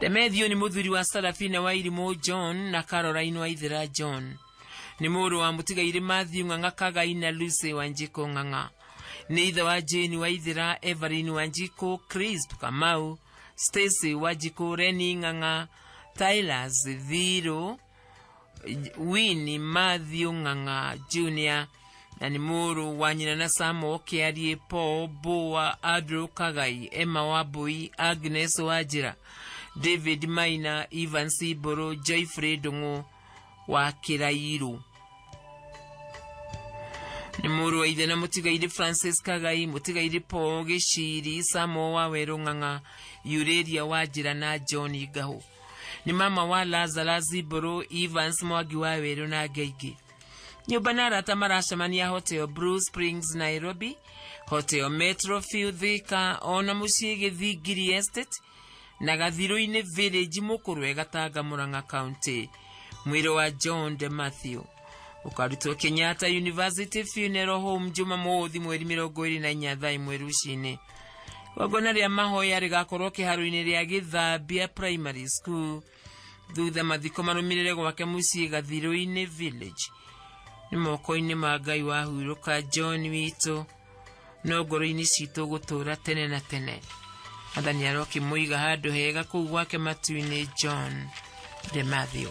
demethio nĩ mũthuri wa sarafina wa irimũ john na caroline wa ithĩra john nĩ mũrũ wa mũtigairĩ mathiũ ng'ang'a kagai na lucy wa njikũ ng'ang'a nĩ ithe wa jane wa ithĩra evelyn wa njikũ crisp kamau stacy wa njikũ reni ng'ang'a tylers thirũ wini mathiũ ng'ang'a junior na nĩ mũrũ wa nyina na samo kĩarie paul boa andrew kagai emma wambui agnes wanjĩra david maina ivan siboro joyfrey ndũng'ũ wa kĩrairũ nĩ mũrũ wa ithe na mũtigairĩ francis kagai mũtigairĩ paul gĩciri samo wa werũ ng'ang'a yurĩria wanjĩra na john ngahũ Nĩ mama wa Lazarus Mbũrũ, Evans Mwangi wa Werũ na angĩ aingĩ. Nyũmba na arata maracemania Hotel Blue Springs Nairobi, Hotel Metro View Thika, o na mũciĩ Gĩthingiri Estate na Gathirũ-inĩ Village Mũkũrwe Gatanga Murang'a County. Mwĩrĩ wa John De Matthew. ukarutwo kenyatta university funeral home juma mothi mweri mirongo iri na inya thaa imwe rucini gongona ria mahoya rigakorwo kiharo-ini ria githambia primary school thutha mathiko marumirire gwake mucii gathiru-ini village ni moko-ini ma ngai wahuruka john witu no ngoro-ini citũ gũtũra tene na tene athani arokimuiga handũ hega kũu gwake matu-inĩ john de matthew